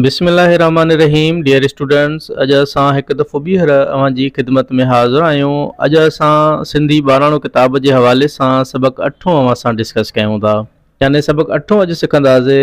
بسم الله الرحمٰن الرحيم ڊيئر اسٽوڊنٽس اڄ اسان هڪ دفعو ٻيهر اوهان جي خدمت ۾ حاضر آهيون اڄ اسان سنڌي ٻاراڻو ڪتاب جي حوالي سان سبق اٺون اوهان سان ڊسڪس ڪيون ٿا يعني سبق اٺون اڄ سکنداسي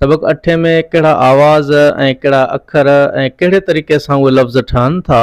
سبق اٺين ۾ ڪهڙا آواز ۽ ڪهڙا اکر ۽ ڪهڙي طريقي سان اهي لفظ ٺهن ٿا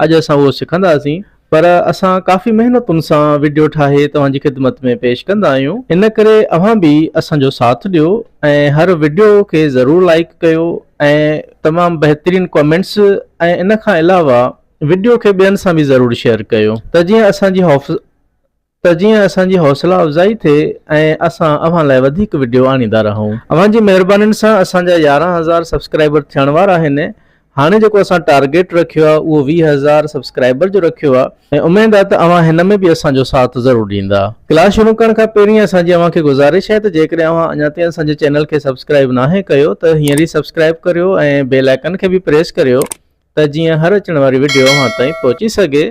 اڄ اسان اهو سکنداسين پر اسان ڪافي محنتن سان وڊيو ٺاهي توهان جي خدمت ۾ پيش ڪندا آهيون ان ڪري اوهان به اسان جو ساٿ ڏيو ۽ هر وڊيو کي ضرور لائيڪ ڪيو ۽ تمام بهترين ڪمينٽس ۽ ان کان علاوه وڊيو کي ٻين سان به ضرور شيئر ڪيو ته جيئن اسان جي حوف. ته جيئن اسان جي حوصلا افزائي ٿئي ۽ اسان اوهان لاء وڌيڪ وڊيو آڻيندا رهون. اوهان جي مهربانين سان اسان جا يارهن هزار سبسڪرائبر ٿيڻ وارا آهن هاڻي جيڪو اسان ٽارگيٽ رکيو آهي اهو ويهه هزار سبسڪرائبر جو رکيو آهي ۽ اميد آهي ته اوهان هن ۾ به اسان جو ساٿ ضرور ڏيندا. ڪلاس شروع ڪرڻ کان پهرين اسان جي اوهان کي گذارش آهي ته جيڪڏهن اوهان اڃا تائين اسان جي چينل کي سبسڪرائب ناهي ڪيو ته هينئر ئي سبسڪرائب ڪريو ۽ بيل آئيڪن کي به پريس ڪريو ته جيئن هر اچڻ واري وڊيو اوهان تائين پهچي سگهي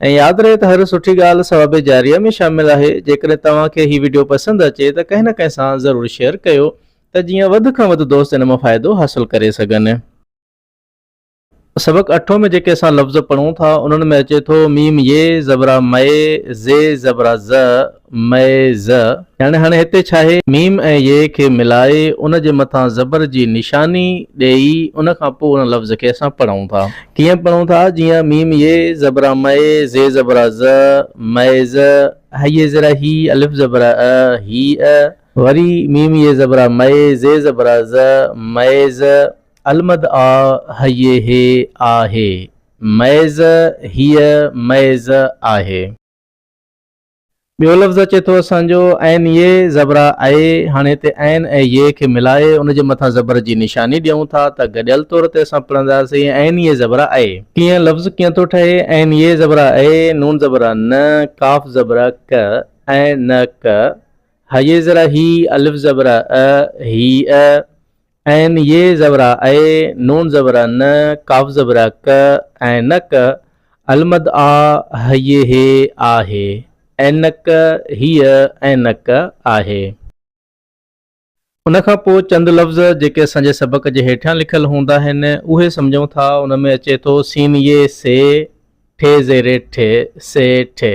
۽ ياد رهي ته هر سٺي ڳالهه ثواب جاريه ۾ شامل آهي جيڪڏهن توهان کي هي وڊيو پسند اچي ته ڪنهن نه ڪنهن سان ضرور شيئر ڪيو ته جيئن وڌ کان وڌ دوست ان مان فائدو حاصل ڪري سگهن. سبق اٺون ۾ جيڪي اسان لفظ پڙهون ٿا انهن ۾ اچي ٿو، ميم يه زبرا مئي، زي زبرا ز، مئي ز، يعني هاڻي هتي ڇاهي؟ م ۽ ي کي ملائي ان جي مٿان زبر جي نشاني ڏيئي ان کان پوء ان لفظ کي اسان پڙهون ٿا. ڪيئن پڙهون ٿا؟ جيئن، م ي زبرا م، ز زبرا ز، مئي ز، ه ي زرا هي، الف زبرا ا، هي ء. وري، م ي زبرا م، ز زبرا ز، مئي ز، المد آ، ه ي هي، آ هي، مئي ز، هي ء، مئي ز، آهي. ٻيو لفظ اچي ٿو اسان جو، عين يي زبرا اي، هاڻي هتي عين ۽ يي کي ملائي ان جي مٿان زبر جي نشاني ڏيون ٿا ته گڏيل طور تي اسان پڙهنداسين عين يي زبرا اي. ڪيئن لفظ ڪيئن ٿو ٺهي، عين يي زبرا اي، نون زبرا ن، قاف زبرا ق، اي ن ق، هيي زرا هي، الف زبرا ا، هي ا، عين ي زبرا اي، نون زبرا ن، قاف زبرا ق ۽ نه ڪ، المد آ، هيي هي آهي، عينڪ هيء عينڪ آهي. ان کان پوء چند لفظ جيڪي اسان جي سبق جي هيٺيان لکيل هوندا آهن، اهي سمجهون ٿا. ان ۾ اچي ٿو، سين ي سي، ٺي زيري ٺي، سي ٺي.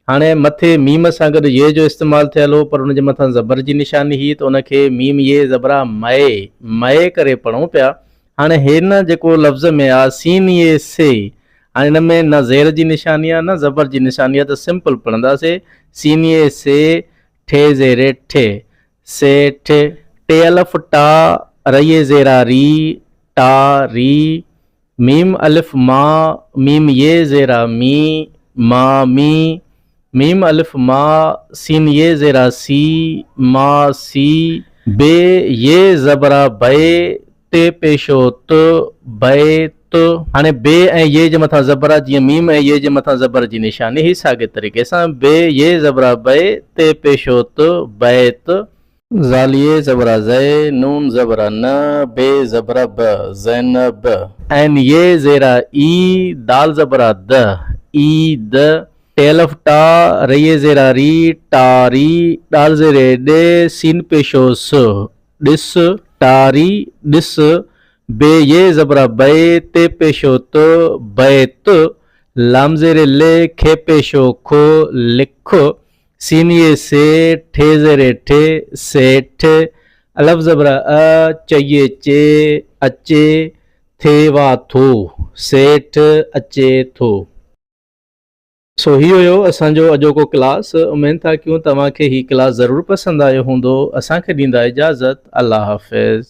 هاڻي مٿي ميم سان گڏ يي جو استعمال ٿيل هو پر ان جي مٿان زبر جي نشاني هئي ته ان کي ميم يي زبرا مئي، مئي، ڪري پڙهون پيا. هاڻي هن جيڪو لفظ ۾ آ سين يي سي هاڻي ان ۾ نه زير جي نشاني آ نه زبر جي نشاني آ ته سمپل پڙهنداسي سين يي سي ٺي زيري ٺي سي ٺي ٽي الف ٽا ريي زيرا ري ٽا ري م الف م م ي زير ا مي م مي م الف م س ي زير ا سي م سي ب ي زبر ا بئ ت پيشو ت بئ ت هاڻي ب ۽ ي جي مٿان زبر آ جيئن م ۽ ي جي مٿان زبر جي نشاني هي ساڳي طريقي سان ب ي زبر ا بئ ت پيشو ت بئ ت. زاليه زبر ا زئي، نون زبر ا ن، بي زبر ا ب، زينب. عين يي زير ا ئي، دال زبر ا د، ئي د. ٽي الف ٽا، ريي زير ا ري، ٽا ري. ڏال زير اي ڏ، سين پيشو س، ڏس، ٽا ري، ڏس. بي يي زبر ا بئي، تي پيشو ت، بئي ت. لام زير ي ل، کي پيشو ک، لک. سينيء سي، ٺي زيري ٺي، سيٺ، الف زبر ا، چيء چي، اچي، ٿي وا ٿو، سيٺ، اچي ٿو. سو هي هيو اسان جو اڄوڪو ڪلاس اميد ٿا ڪيون توهان کي هي ڪلاس ضرور پسند آيو هوندو اسان کي ڏيندا اجازت الله حافظ.